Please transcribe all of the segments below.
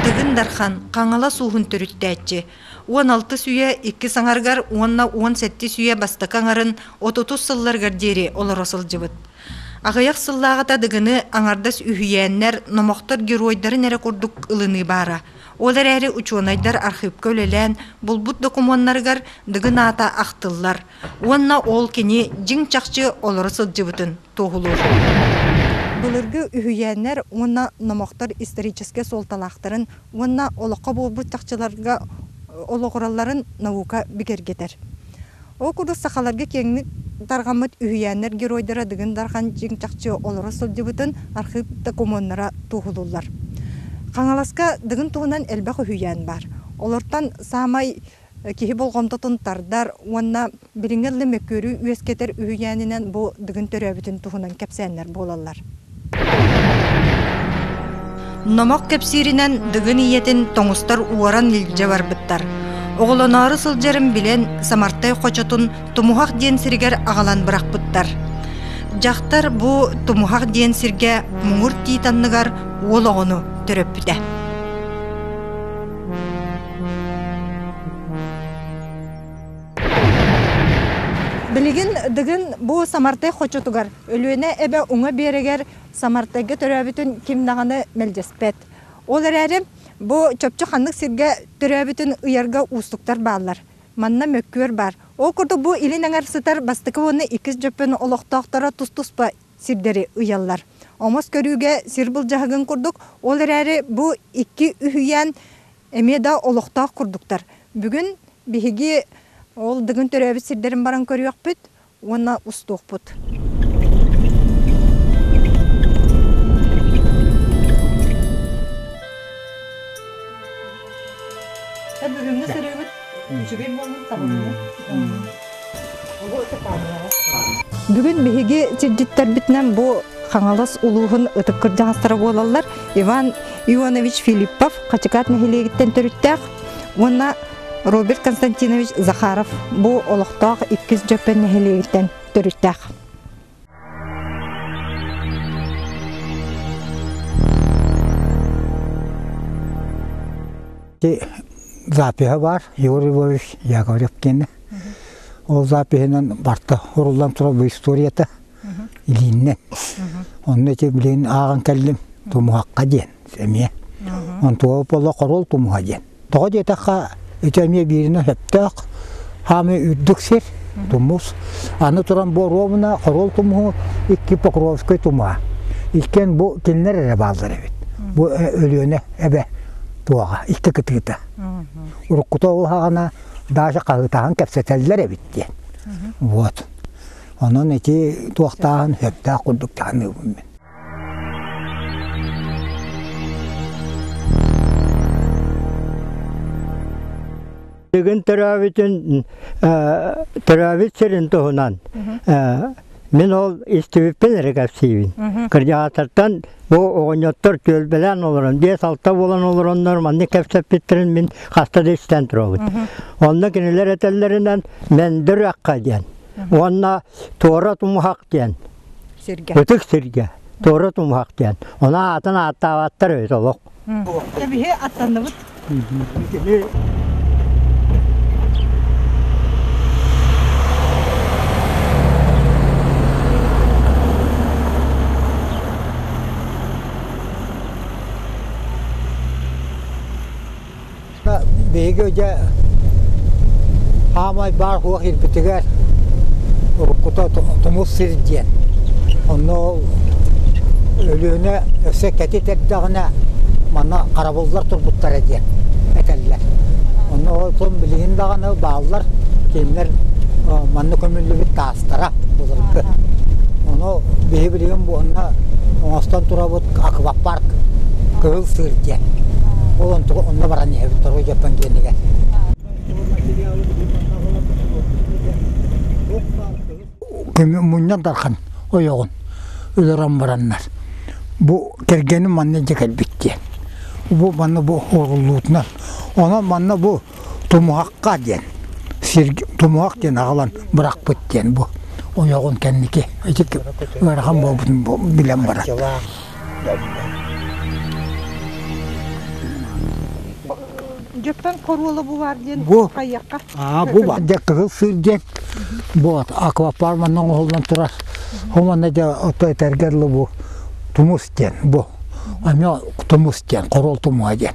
Ивин Дархан Хаҥалас ууһун төрүттээччи уон алтыс үйэ иккис аҥарыгар уонна уон сэттис үйэ бастакы аҥарын отутус сылларгар диэри олоро сылдьыбыт. Аҕыйах сыллааҕыта дыгыны аҥардас үһүйээннэр, номохтор геройдарын эрэ курдук ылыныы баара. Ол эрээри учуонайдар архыыпка үлэлээн булбут докумуоннарыгар дыгын аата ахтыллар уонна ол кини дьиҥ-чахчы олоро сылдьыбытын туоһулуур. Былыргы үһүйээннэр уонна номохтор историческай суолталаахтарын уонна олоххо буолбут чахчыларга олоҕуралларын наука бигэргэтэр. Ол курдук сахаларга киэҥник тарҕаммыт үһүйээннэр геройдара Дыгын Дархан чиҥ-чахчы олоро сылдьыбытын архыып докумуоннара туоһулууллар. Хаҥаласка Дыгын туһунан элбэх үһүйээн баар. Олортон саамай киһи болҕомтотун тардар уонна билиҥҥи ылы мөккүөрү үөскэтэр үһүйээнинэн бу Дыгын төрөөбүтүн туһунан кэпсээннэр буолаллар. Номох кэпсииринэн Дыгын ийэтин тоҥустар уоран илдьэ барбыттар. Оҕолоноору сылдьарын билэн Самартай хочотун Тумуһах диэн сиригэр аҕалан бырахпыттар. Дьахтар бу Тумуһах диэн сиргэ муҥур тиит анныгар уол оҕону төрөппүтэ. Билигин Дыгын бу Самартай хочотугар Өлүөнэ эбэ уҥа биэрэгэр Самартайга төрөөбүтүн ким даҕаны мэлдьэспэт. Ол эрээри бу чопчу ханнык сиргэ төрөөбүтүн ыйарга уустуктар бааллар. Манна мөккүөр баар. Ол курдук бу илин аҥар сытар бастакы уонна иккис Дьөппөн олохтоохторо тус-туспа сирдэри ыйаллар. Омос көрүүгэ сир былдьаһыгын курдук, ол эрээри бу икки үһүйээн эмиэ да олохтоох курдуктар. Бүгүн биһиги ол Дыгын төрөөбүт сирдэрин баран көрүөхпүт, уонна устуохпут. Бүгүҥҥү сырыыбыт үчүгэй буолун табыллы. Бүгүн биһиги сирдьиттербитинэн бу Хаҥалас улууһун ытык кырдьаҕастара буолаллар Иван Ионович Филиппов Хачыкаат нэһилиэгиттэн төрүттээх уонна Роберт Константинович Захаров бу олохтоох иккис Дьөппөн нэһилиэгиттэн төрүттээх. запиһа бар Егор Львович Яковлевкин. Ол запиһынан барта уруллан турар bu историята илииннэн. Онно ити билигин ааҕан кэллим тумуһахха диэн эмиэ. Онтуоп оло хорол тумуһа диэн. Тоҕо диэтэххэ ити эмиэ бииринэ сөптөөх хаамыы үрдүк сир тумус. Аны туран бу оруобуна хорол тумуһу икки покровскай тумуһа. Иккиэн бу кинилэр эрэ бааллар эбит. Бу Өлүөнэ эбэ туоҕа икки кытыыта. Уруккута ол хаҕана Даша хаһыытаһан кэпсэтэллэр эбит диэн. Вот. Онон ити туохтааҕын сөптөөх курдук таһыныыбын мин. Бүгүн төрөөбүтүн төрөөбүт сирин туһунан мин ол истибиппин эрэ кэпсиибин. Координатортан бу оҕонньоттор түөлбэлээн олорон биэс-алта буолан олороннор маннык кэпсэппиттэрин мин хаста да истэн турабыт. Онно кинилэр этэллэринэн мендер аққа диэн уонна туора тумуһах диэн ытык сиргэ туора тумуһах диэн онон аатын ааттаабаттар үһү олох биһи аттанныбыт биһиги дьэ аамай баар суох ирбитигэр уруккута тумус сир диэн онно Өлүөнэ өссө кэтит эрдэҕинэ манна харабыллар турбуттара диэн этэллэр. Онно ол билигин даҕаны бааллар, кинилэр манна көмүллүбүт таастара былыргы. Ону биһи билигин буонна оҥостон турабыт аквапарк Кыһыл сыыр диэн. Ол онтуга онно баран иһэбит Дорогой Дьоппон диэнигэр. Мунньан Дархан ойоҕун өлөрөн бараннар бу кэргэним манна дьэ кэлбит диэн. Бу манна бу оруоллуутунан. Онон манна бу Тумуһахха диэн сир тумуһах диэн аҕалан бырахпыт диэн бу ойоҕун кэнники ити ыарахан буолбутун билэн баран. Дьэптэн коруола бу баар диэн хайыахха? Аа бу баар дьэ кыһыл сыр диэн бу аквапарма оҥоһуллан турар. Хоманна дьэ ото этэргэр бу тумус диэн бу. Ами тумус диэн, корол тумуһа диэн.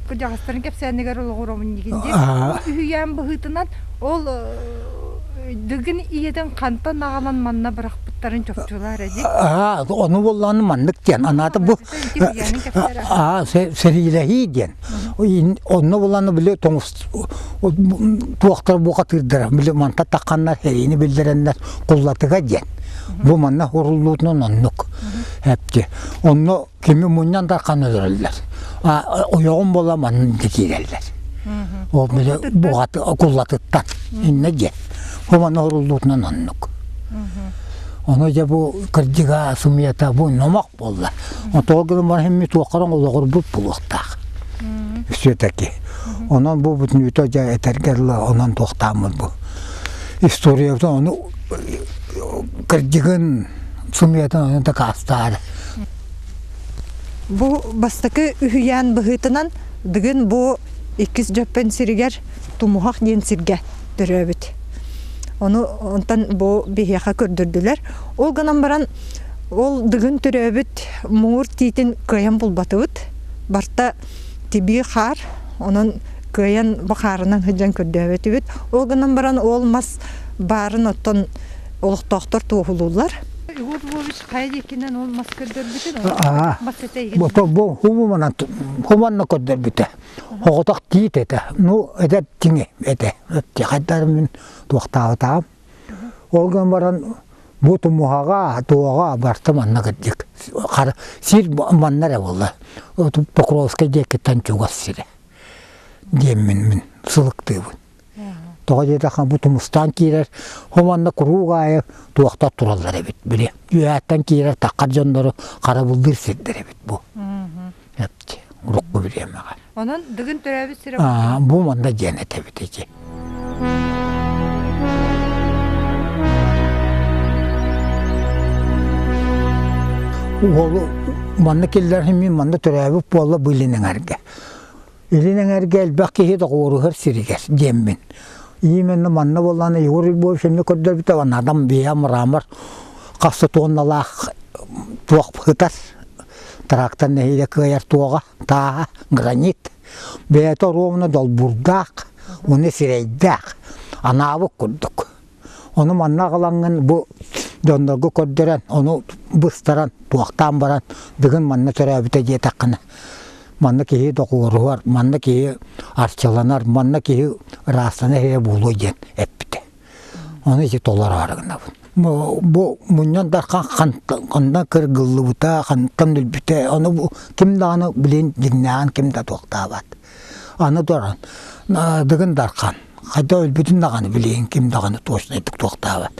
кырдьаҕастарын кэпсээнигэр олоҕуромун нигин диэн үһүйээн быһыытынан ол дыгын ийэтин хантан аҕалан манна бырахпыттарын чопчулар эдик аа ону боллааны маннык диэн анаата бу аа сэриилэһии диэн онно боллааны били туохтар бухатыырдара били манта тахханнар сэриини биллэрэннэр куллатыга диэн бу манна уруллуутунан оннук эпти онно Кими мунньан да ханыларыллар. Ойоҕум буола манын кэтиирэллэр. Ол буҕаты куллатыттан инна диэн. Хоманы оруллуутунан оннук. Ону дьэ бу кырдьыга сумията бу номох буолла. Отоо гынан барахымми туоххаран олоҕурбут булуохтаах. Все-таки. Онон бу бүтүн үтө дьэ этэргэр онон туохтааммыт бу. Историябытын ону Кырдьыгын сымыатын дакаастаары. Бу бастакы үһүйээн быһыытынан бүгүн бу иккис Дьөппөн сиригэр Тумуһах диэн сиргэ төрөөбүт. Ону онтон бу биһиэхэ көрдөрдүлэр. Ол гынан баран ол дыгын төрөөбүт муур тиитин кыайан булбатыбыт. Барта тибии хаар, онон кыайан бу хаарынан сыдьан көрдөөбөтүбүт. Ол гынан баран ол мас Баарын оттон олохтоохтор туоһулууллар. Егор Львович хайа диэкинэн ол мас көрдөрбүтүн? Бото бу хумуманан хуманна көрдөрбүтэ. Хоҕотох тиит этэ. Ну, эдэр тиҥи этэ. Тихайдары мин туохтаабытаам. Ол гынан баран бу тумуһаҕа, туоҕа барта манна кырдык. Сир манна эрэ болла. Покровскай диэкиттэн чугас сирэ. диэммин мин сылыктыыбын. Тоҕо диэтэххэ бу тумустаан киирэр, ол манна куруук аайы туохтар тураллар эбит, били үөһэттэн киирэр таххар дьоннору харабыллыыр сирдэр эбит бу. Эпти, урукку бириэмэҕэ. Онон дыгын төрөөбүт сирэ Аа, бу манна диэн этэбит ити. Уолу манна киллэр химии манна төрөөбүт буолла быйлин эҥэргэ. Илин эҥэргэ элбэх киһи доҕуоруһар сиригэр диэммин. Именно манна буоллаҕына Егор Львович эмиэ көрдөрбүтэ уонна адам бэйэ мрамор хаста туонналаах туох кытар трактор нэһиилэ кыайар туоҕа тааһа гранит бэйэтэ оруобуна долбуурдаах уонна сирэйдээх анаабыт курдук Ону манна аҕалаҥҥын бу дьоннорго көрдөрөн, ону быстаран, туохтаан баран, бүгүн манна төрөөбүтэ диэтэххинэ, манна киһи доҕуоруһар, манна киһи арчыланар, манна киһи ыраастанар иһэ буолуо диэн эппитэ. Ону ити толороро гынабын. Бу мунньан дархан хантан кыргыллыбыта, хантан өлбүтэ, ону ким даҕаны билин дьиҥнээҕин ким да туохтаабат. Аны туран, Дыгын Дархан хайда өлбүтүн даҕаны билиин, ким даҕаны точнайдык туохтаабат.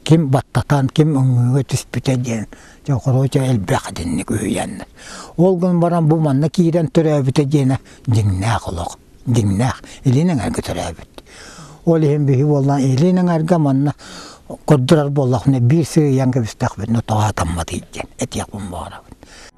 Ким баттатан, ким өҥүүгэ түспүтэ диэн короче элбэх итинник үһүйэннэр. Ол гын баран бу манна киирэн төрөөбүтэ диэнэ дьиҥнээх олох. Дьиҥнээх. Илин эҥэргэ төрөөбүт. Ол иһин биһи буоллан илин эҥэргэ манна көрдөрөр буоллахпына биир сыыйан кэбистэхпитинэ тоҕо атамматый диэн этиэхпин баҕарабын.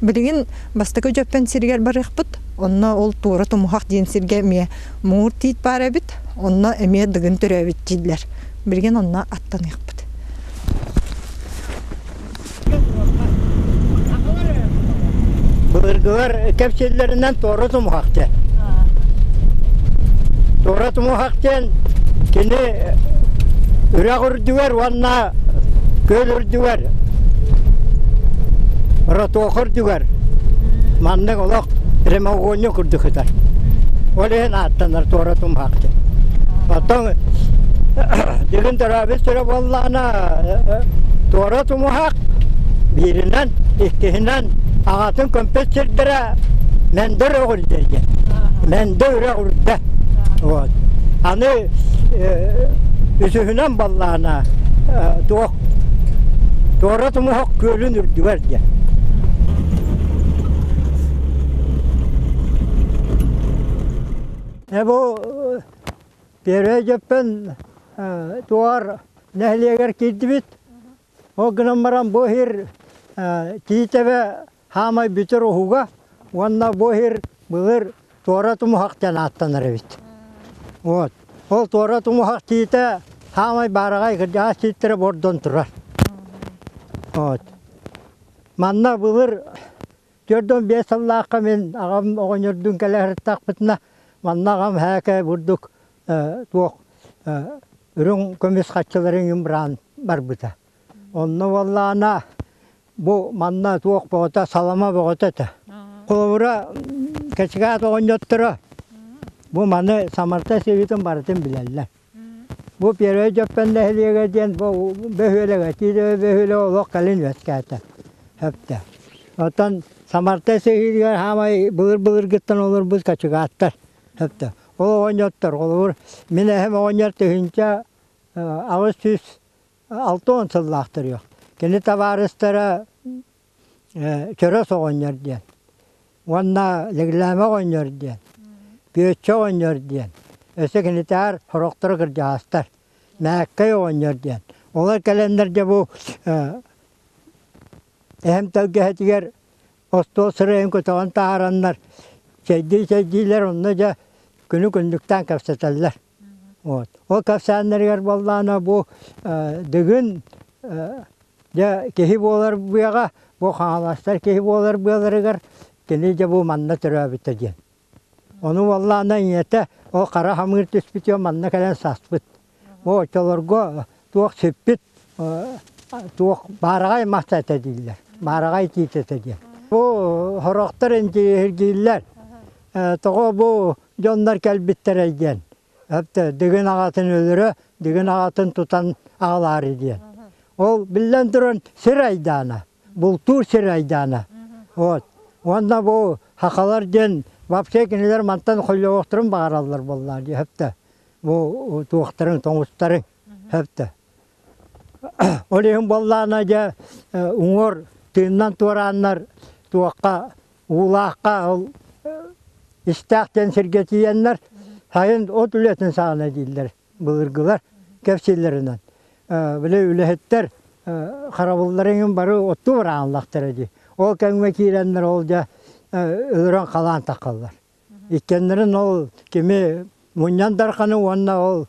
Билигин бастакы Дьөппөн сиригэр барыахпыт, онно ол Туора Тумуһах диэн сиргэ эмиэ муур тиит баар эбит, онно эмиэ дыгын төрөөбүт дииллэр. Билигин онно аттаныахпыт. Былыргылар кэпсиллэринэн Туора Тумуһах диэн. Туора Тумуһах диэн кини үрэх үрдүгэр уол уонна күөл үрдүгэр ротуох үрдүгэр маннык олох прямоугольник курдук сытар ол иһин ааттанар туора тумһаахтын оттон дигин төрөөбүт сүрэ буоллаҕына туора тумуһаах бииринэн иккиһинэн аҕатын көмпөт сирдэрэ Мәндер оҕырдерге. Мәндер Үрдэ. Аны үсүһүнэн баллаана туох туора тумуһок күөлүн үрдүгэр диэн. Бу Первый Жеппен туар нэһилиэгэр кирдибит. Ол гынан баран бу иһир Тиитэбэ саамай бүтэр уһуга уонна бу иһир былыр туора тумуһах диэн ааттанар эбит. Вот. Ол туора тумуһах тиитэ саамай баараҕай кырдьаҕас тииттэрэ бордон турар. Вот. Манна былыр түөрдөн биэс сыллаахха мин аҕам оҕонньордуун кэлэ сырыттахпытына манна аҕам һээкэ бурдук э, туох э, үрүҥ көмүс хаччыларын үҥүн быраан барбыта. Онно уоллаана Бу манна туох бөҕөтө, салама бөҕөтө этэ. Холобура, Кэчигэт оҕонньотторо бу маны Самарта сиһитин барытын билэллэр. Бу Первый Дьөппөн нэһилиэгэ диэн бу бөһүөлэгэ, Тиитэбэ бөһүөлэгэ олох кэлин үөскээтэ, сөптөөх. Оттон Самарта сиһитигэр хаамай былыр-былыргыттан олорбут качыгааттар, сөптөөх. Ол оҕонньоттор, холобур, мин эһэм оҕонньор тыһыынча аҕыс сүүс Алта уон сыллаахтар үһү. Кини табаарыстара Чөрөс оҕонньор диэн уонна Лэглээмэ оҕонньор диэн, Күөччэ оҕонньор диэн, өссө кинитээр сорохторо кырдьаҕастар, Мээккэй оҕонньор диэн. Олор кэлэннэрдэ бу эһэм тэлгэһэтигэр остуол сырайын көтөҕөн таһаараннар, чэйдии-чэйдиилэр онно дьэ күнү күннүктээн кэпсэтэллэр. Ол кэпсээннэригэр буоллаана бу Дыгын дьэ киһи буолар быаҕа бу Хаҥаластар киһи буолар быаларыгар кини дьэ бу манна төрөөбүтэ диэн. Ону буоллаана ийэтэ ол хара хамыыр түспүтүгэр манна кэлэн саспыт. Бу оччолорго Туох сиппит, туох баараҕай махта этэ дииллэр, баараҕай тиит этэ диэн. Бу сорохтор интириэһиргииллэр, тоҕо бу дьоннор кэлбиттэрэй диэн. Өптө дыгын аҕатын өлөрө, дыгын аҕатын тутан аҕалаары диэн. Ол биллэн туран сир айдаана, бултуур сир айдаана. Вот. Уонна бу хахалар диэн вообще кинилэр мантан холлоҕохторун баҕараллар буоллаа дии өптө. Бу туохтарын тоҥустарын сөптө. Ол иһин буоллаана дьэ уҥуор тыыннан туорааннар туохха уулаахха ол истээх диэн сиргэ тиийэннэр сайын от үлэтин саҕана дииллэр былыргылар кэпсииллэринэн били үлэһиттэр харабылларын иһин бары оттуу быраҕаллахтара дии ол кэмҥэ киирэннэр ол дьэ ыыран халаан тахаллар Иккэннэрин ол кими мунньан Дарханы уонна ол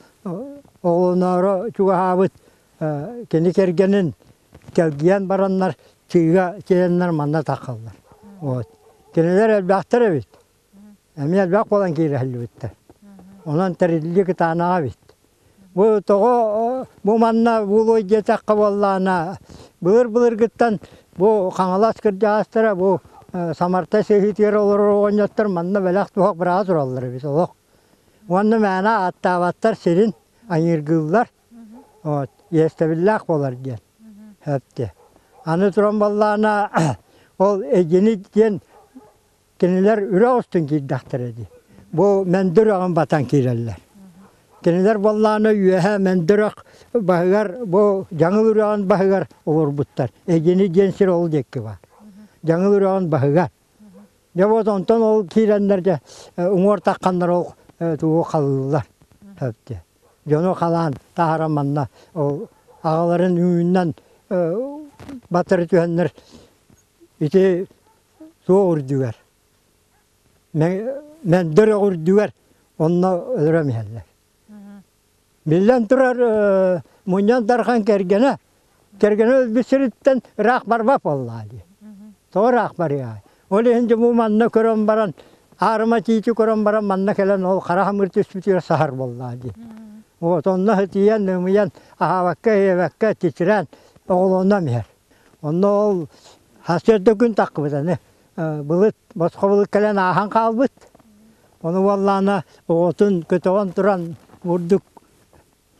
оҕолоноору чугаһаабыт кини кэргэнин кэлгийэн бараннар чыыга тиэйэннэр манна тахаллар. Вот. Кинилэр элбэхтэр эбит. Эмиэ элбэх буолан киирэһиллибиттэр. Онон тэриллии кытаанаҕа эбит. Бу тоҕо бу манна буолуой диэтэххэ буоллаана былыр-былыргыттан бу Хаҥалас кырдьаҕастара бу Самарта сыһыытыгар олорор оҕонньоттор манна бэлэх туһах быраҕа тураллар эбит олох. Уонна мээнэ ааттаабаттар сирин айыыргыыллар вот иэстэбиллээх буолар диэн эттэ. Аны туран буоллаана ол Эгини диэн Кинилэр үрэ устун киирдэхтэрэ дии. Бу Мөндүр өҕүн батан киирэллэр. Кинилэр буоллаана үөһэ Мөндүр өөх баһыгар бу Дьаҥыл үрэҕин баһыгар олорбуттар. Эгини диэн сир ол диэки баар. Дьаҥыл үрэҕин баһыга. Дьэ вот онтон ол киирэннэргэ уҥуортахханнар ол туу халыыллар. Сөптө. Дьону халаан таһара манна ол аҕаларын үүннэн батары түһэннэр ити суох үрдүгэр мэлдэр үрдүгэр онно өлөрөн иһэллэр биллэн турар мунньан дархан кэргэнэ кэргэнэ өлбүт сириттэн ыраах барбат буоллаҕа дии тоҕо ыраах барыай ол иһин дьому манна көрөн баран аарыма тиити көрөн баран манна кэлэн ол хара хамыр түспүтүгэр саһар буоллаҕа дии вот онно ытыйан ымыйан аһаабакка иэбэккэ титирээн оҕолонон иһэр онно ол Хас төрдө күн тахпыт аны. Былыт, босхо былыт кэлэн ааһан хаалбыт. Ону уоллаана оҕотун көтөҕөн туран бурдук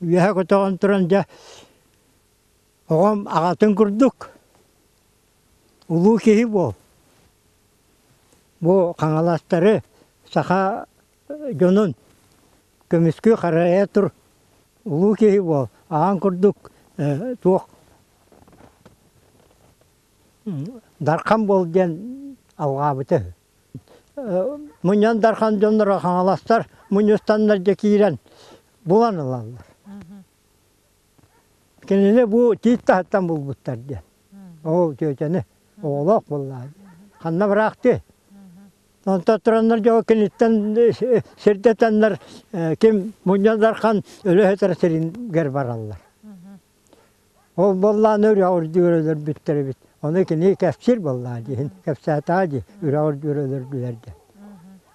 үөһэ көтөҕөн туран дьэ оҕом аҕатын курдук улуу киһи буол. Бу хаҥаластары саха дьонун көмүскүү харайа тур улуу киһи буол аан курдук туох дархан буол диэн алҕаабыта мунньан дархан дьонноро хаҥаластар мунньустаннар дьэ киирэн булан ылаллар Кинини бу тиит таһыттан булбуттар диэн. Оо, тетяны оҕолоох буоллаҕа дии. Ханна быраахтыы? Онтон тураннар дьоҕо киниттэн сирдэтэннэр ким Мунньа Дархан өлөһөтөр сиригэр бараллар. Ол буоллаан үрэҕэр диир өлөрбүттэр эбит. Ону кини кэпсиир буоллаҕа дии иһин кэпсээтэҕэ дии үрэҕэр диир өлөрдүлэр диэн.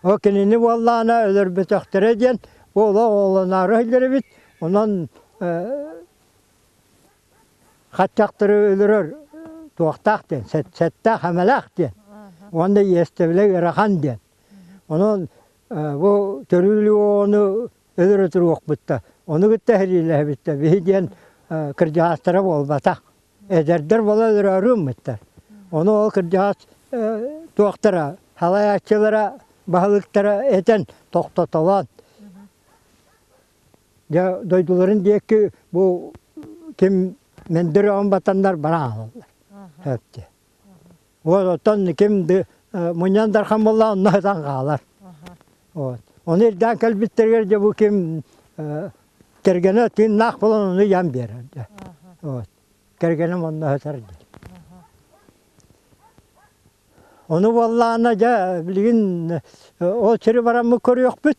Ол кинини буоллаҕына өлөрбөтөхтөрө диэн олох оҕолоноору иһиллэр эбит. Онон хаччахтары өлөрөр туохтаах диэн, сэттээх эмэлээх диэн уонна иэстэбилэ ыарахан диэн. Онон бу төрүлүөну өлөрө туруохпуттар. Ону кытта сэриилэһэбиттэр. Биһи диэн кырдьаҕастара буолбатах. Эдэрдэр буола өлөрөөрү ыммыттар. Ону ол кырдьаҕас туохтара, салайааччылара, баһылыктара этэн, тохтотолоон Дьэ дойдуларын диэки бу ким мындыр оҕон батаннар бара аһаллар. Өттө. Вот оттон ким ды мунньан дархан буолла онно ытан хаалар. Вот. Ону ирдээн кэлбиттэригэр дьэ бу ким кэргэнэ тыыннаах буолан ону ыйан биэрэр. Дьэ. Вот. Кэргэним онно ытар дии. Ону буоллаана дьэ билигин ол сири бараммыт көрүөхпүт.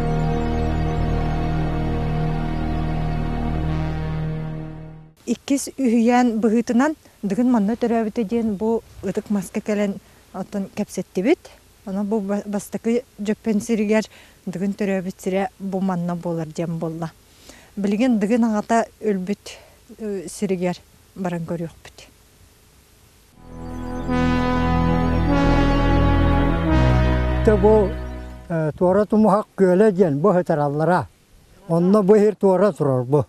Иккис үһүйээн быһыытынан Дыгын манна төрөөбүтэ диэн бу ытык маска кэлэн оттон кэпсэттибит. Ону бу бастакы Дьөппөн сиригэр Дыгын төрөөбүт сирэ бу манна буолар диэн буолла. Билигин Дыгын аҕата өлбүт сиригэр баран көрүөхпүт. бу туора тумуһах күөлэ диэн быһытараллара онно бу иһир туора турар бу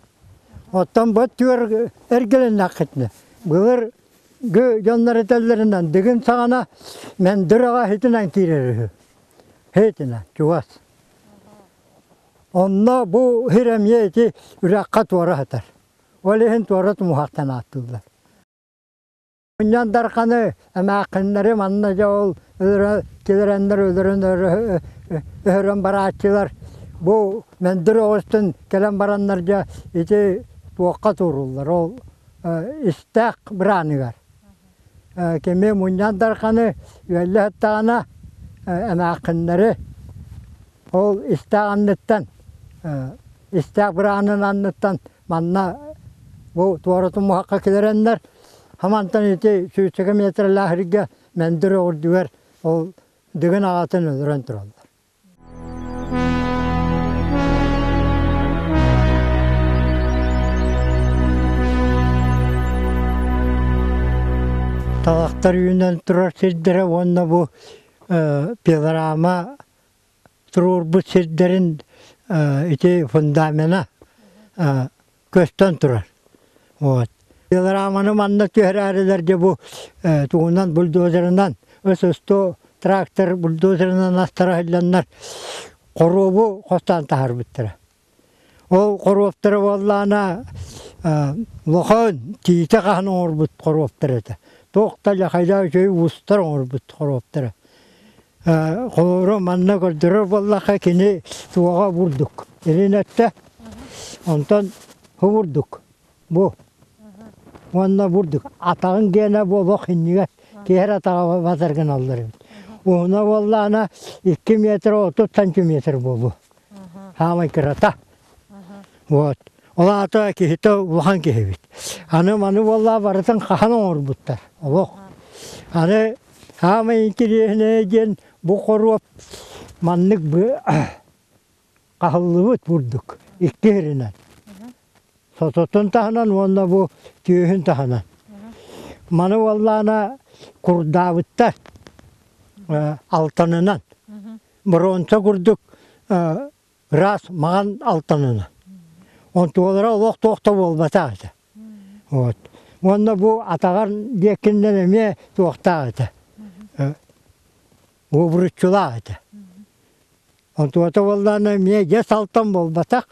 оттон бу түөр эргилиннэххитинэ былыр гы дьоннор этэллэринэн дыгын саҕана мэндыр аҕа хитинэн киирэр үһү хитинэ чугас онно бу иһир эмиэ ити үрэххэ туора сытар ол иһин туора тумуһахтан ааттыыллар Мунньан Дарханы эмээххиннэри манна дьэ ол өлөрө килэрэннэр өлөрөн өһөрөн барааччылар бу мындыр оҕустун кэлэн бараннар дьэ ити туохха тууруллар ол истээх бырааныгар кими Мунньан Дарханы үөллэһэттэҕинэ эмээххиннэри ол истээх анныттан истээх быраанын анныттан Манна бу туоратын муһахха килэрэннэр, хамантан ити сүүсчэкэ метрлээх иргэ мендер өҕүрдүгэр ол дыгын аҕатын өлөрөн тураллар. Талахтар үүнэн турар сирдэрэ уонна бу пилорама туруорбут сирдэрин ити фундамена көстөн турар. Вот. Маны манна түһэрээрилэргэ бу тугунан бульдозерынан СС-100 трактор бульдозерынан астара иһиллэннэр хоруобу хостаан таһарбыттара. Ол хоруоптара буоллаана лохон тиитэ хаһан оҥорбут хоруоптара этэ. Туох да ляхайда үчүгэй уустар оҥорбут хоруоптара. Холобура манна көрдөрөр буоллахха кини туоҕа бурдук илин өттө. Онтон хомурдук. Бу уонна бурдук атаҕыҥ диэнэ буолуох иннигэр киһи эрэ атаҕа батар гыналлар эбит. Уһуна буоллаҕына икки метр отут сантиметр буолуо. Саамай кырата. Вот. Ол аата киһитэ улахан киһи эбит. Аны маны буоллаа барытын хаһан оҥорбуттар олох. Аны саамай интириэһинэй диэн бу хоруоп маннык бу хаһыллыбыт бурдук икки сиринэн сототун таһынан уонна бу түөһүн таһынан маны уоллаана курдаабыттар алтанынан бронца курдук раз маҥан алтанынан онтулара олох туох да буолбатах этэ вот уонна бу атаҕар диэккиннэн эмиэ туохтаах этэ уобуруччулаах этэ. Онтуота буоллаана эмиэ дьэс алтан буолбатах,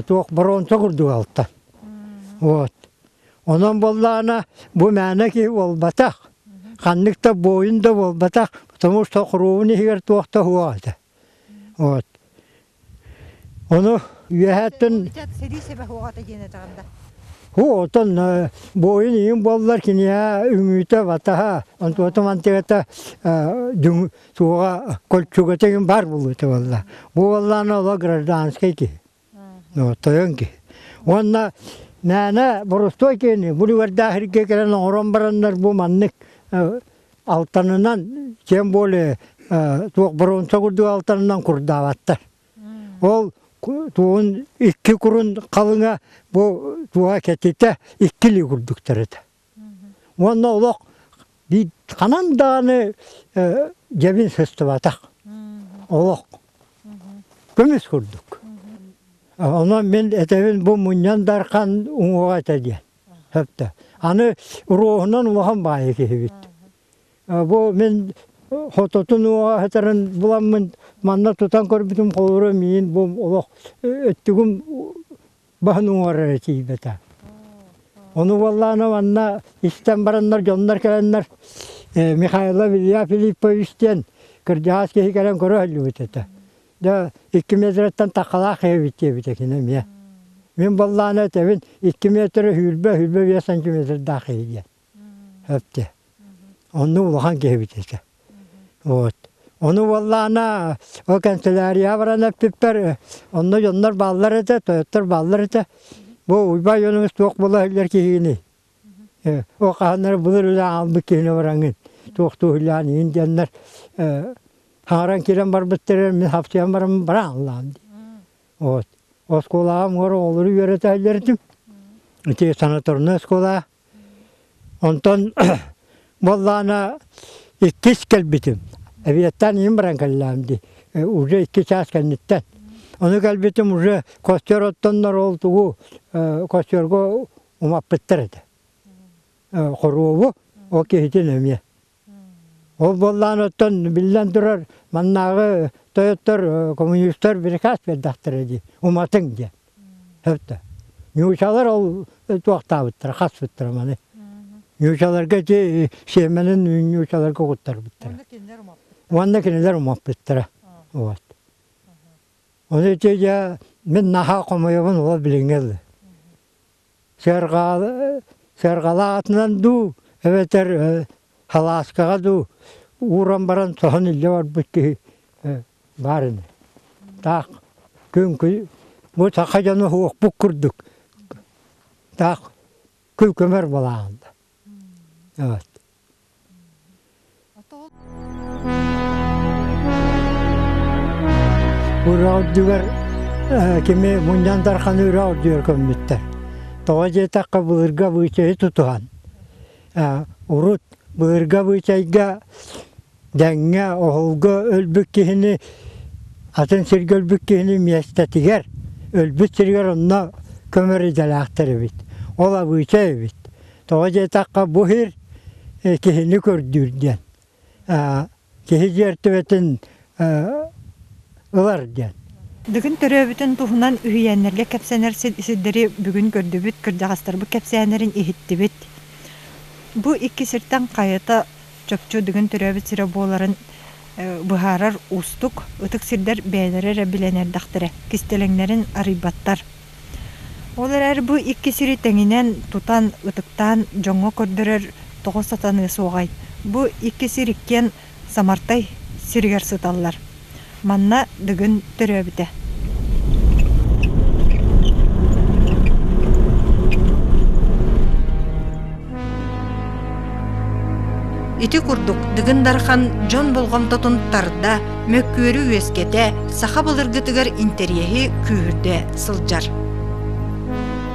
туох боруонса курдук алтан. Вот. Онон буоллаана бу мээнэ киһи буолбатах, ханнык да буойун да буолбатах, потому что хоруобун иһигэр туох да суох этэ. Вот. Ону үөһэттэн Ычат сэрии сэбэх уоҕата диэн этэҕин да. Уу оттон э, буойун ийин буоллар киниэхэ үҥүүтэ батаха онтуота мантыгата дүҥ суоҕа кольчугатегин бар булута буолла. Бу буоллаана ола гражданскай киһи. Тойон киһи. Уонна мээнэ борустуой киһини булугардаа хиргэ кэлэн оҥорон бараннар бу маннык алтанынан кем более туох боруонса курдук алтанынан курдаабаттар ол туон икки курун халыҥа бу туоха кэтитэ икки ли курдуктар этэ уонна олох ханан даҕаны дьэбин сыстыбатах олох көмүс курдук онон мин этэбин бу мунньан дархан уҥуоҕа этэ диэн Сөптөөх. Аны уруоһунан улахан баайа киһибит. Бу мин хототун уоҕаһытарын буламмын манна тутан көрбүтүм холура миин бу олох өттүгүм баһын уҥарара тиийбэтэ. Ону буоллаана манна истэн бараннар дьоннор кэлэннэр Михайло Илья Филиппович диэн кырдьаҕас киһи кэлэн көрө сылдьыбыт этэ. Да икки метрыттан таккалаах эбит диэбитэ кини эмиэ. Мин буоллаана этэбин икки метры үүрбэ үүрбэ биэс сантиметрдаах киһи диэн. Өптө. Онно улахан киһи эбит этэ. Вот. Ону буоллаана ол канцелярия баран эппиппэр онно дьоннор бааллар этэ, тойоттор бааллар этэ. Бу Уйбай Ойуунуҥ суох буола иһиллэр киһини. Ол хааннара былыр үлэ аҕалбыт киһини бараҥҥын туохтууһуйлаан иһин диэннэр хаҥаран киирэн барбыттарыгар мин хапсыйан баран бырааллаам дии. Вот оскуолаҕа муҥур оҕолору үөрэтэһэллэритим ити санаторнай оскуолаҕа онтон буоллаҕына иккис кэлбитим эбиэттэн иһин баран кэллэҕим дии уже икки чаас кэнниттэн ону кэлбитим уже костер оттоннор ол тугу костёрго умаппыттар этэ. Хоруобу ол киһитин эмиэ. Ол буоллаан оттон биллэн турар маннааҕы тойоттор коммунистар приказ биэрдэхтэрэ дии уматыҥ диэн. Сөптө. Ньуучалар ол туохтаабыттара хаспыттара маны. Ньуучаларга ити сиэмэнин ньуучаларга угуттарбыттара. Уонна кинилэр умаппыттара. Вот. Ону ити дьэ мин наһаа хомойобун ол билиҥҥи Сыарҕаҕа сыарҕалаатынан дуу эбэтэр халааскаҕа дуу ууран баран соһон илдьэ барбыт киһи баар ини. Таах күҥкүй бу саха дьоно уохпут курдук таах күлкөмөр буолаҕын да. Ураалдьыгар кими мунньан дарханы ураалдьыгар көммүттэр. Тоҕо диэтэххэ былырга быычайы тутуһан урут былырга быычайга дэҥҥэ, оһолго өлбүт киһини, атын сиргэ өлбүт киһини миэстэтигэр, өлбүт сиригэр онно көмөр идэлээхтэр эбит. Ол Абыыча эбит. Тоҕо диэтэххэ, бу сир э, киһини көрдүүр диэн. Э, киһи дьиэртибэтин э, ылар диэн. Дыгын төрөөбүтүн туһунан үһүйээннэргэ кэпсэнэр сирдэри бүгүн көрдүбүт, кырдьаҕастарбыт кэпсээннэрин иһиттибит. Бу икки сиртэн хайата чопчу Дыгын төрөөбүт сирэ буоларын быһаарар уустук, ытык сирдэр бэйэлэрэ эрэ билэн эрдэхтэрэ, кистэлэҥнэрин арыйбаттар. Ол эрээри бу икки сири тэҥинэн тутан, ытыктаан дьоҥҥо көрдөрөр тоҕо сатаныа суоҕай? Бу икки сир иккиэн Самартай сиригэр сыталлар. Манна Дыгын төрөөбүтэ Ити курдук Дыгын Дархан дьон болҕомтотун тарда, мөккүөрү үөскэтэ, саха былыргытыгар интэриэһи күүһүрдэ сылдьар.